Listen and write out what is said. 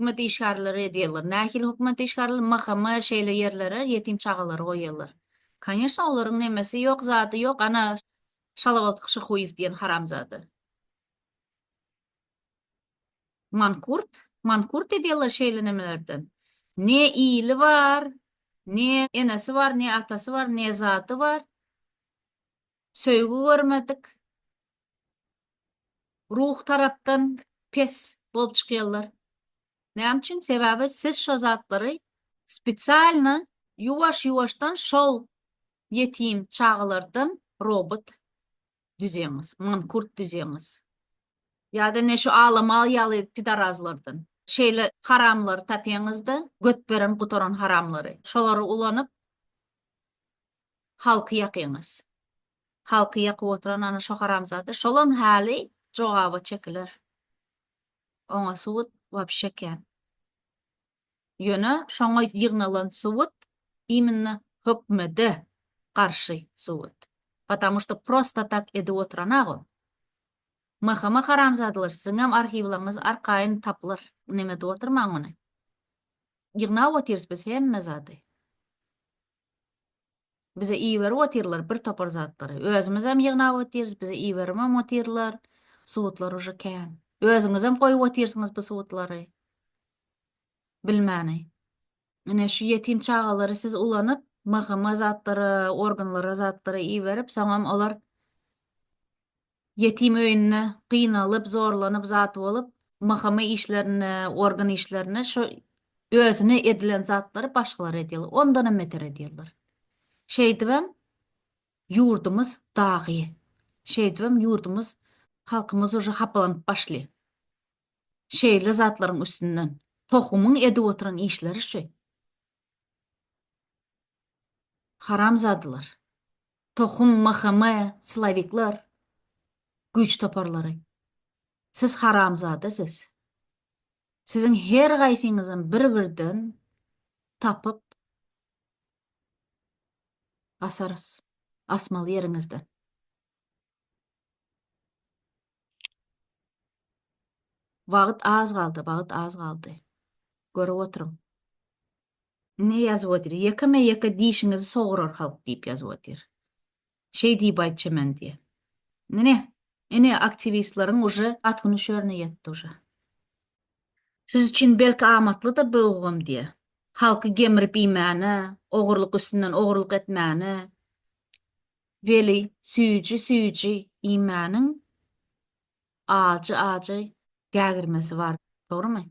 hökümet işgärleri edýärler. Nähili hökümet işgärleri? MHM-e şeýle ýerlere ýetim çagalary goýýarlar. Konýeçne, olaryň nemesi ýok, zady ýok, ana, Şalabaltyk Şyhuýew diýen haramzada. Mankurt, mankurt edýärler şeýle nemelerden. Ne ili bar, ne enesi bar, ne atasy bar, ne zady bar. Söýgi görmedik. ruhy tarapdan pes bolup çykýarlar. Näme üçin? Sebäbi siz şo zatlary spesialno ýuwaş-ýuwaşdan şol ýetim çagalardan robot düzýäňiz, mankurt düzýäňiz. Ýa-da ne şu Alamal ýaly pidarazlardan. Şeýle haramlary tapýaňyz-da, göt beren-gutaran haramlary. Şolary ulanyp, halky ýakyňyz. Halky ýakyp oturan ana şo haramzada şolam haly jogaba çekiler. Oňa subut wapşe kän. Ýöne şoňa ýygnalan subut iminna hökmede garşy subut. Patamu şto prosta tak edip oturanag ol. Mahama haramzadalar siziňem arhiwlaňyz arkaýyn tapylar. Neme edip oturmaň ony. Ýygnap otyrys biz hemme zady. Bize iberip otyrlar bir topar zatlary. Özümizem ýygnap otyrs, bize iberibem otyrlar. Subutlar uje kän. Özüňizem goýup otyrsyňyz bu subutlary. Bilmäni. Ine şu ýetim çagalary siz ulanyp, MHM zatlara, organlara zatlara iberip, soňam olar Ýetim öýünde gynalyp, zorlanyp zat bolup, mhma işlerinde, organ işlerinde şu özüne edilen zatlary başgalara edýärler. Ondanam beter edýärler. Şeýdibem ýurdumyz dagy. Şeýdibem ýurdumyz, halkymyz uje hapalanyp başlaýar. Şeýle zatlaryň üstünden. Tohumyň edip oturan işleri şu. Haramzadalar. Tohum mhme silovikler güýç toparlary siz haramzada siz siziň her gaýsyňyzam bir birden tapyp asarys asmaly ýeriňizden. Wagyt az galdy wagyt az galdy görüp oturyň. Ine ýazyp otyr. Ýekeme ýeke dişiňizi sograr halk diýip ýazyp otyr. Şeý diýip aýtja men diýe. Ine, ine aktiwistleriň uje at güni şörüne ýetdi uje. Siz üçin belki amatlydyr bir ulgam diýe. Halky gemrip iýmäne, ogurlyk üstünden ogurlyk etmäne. Weli süýji süýji iýmäniň ajy ajy gägirmesi bar. Dogrymy?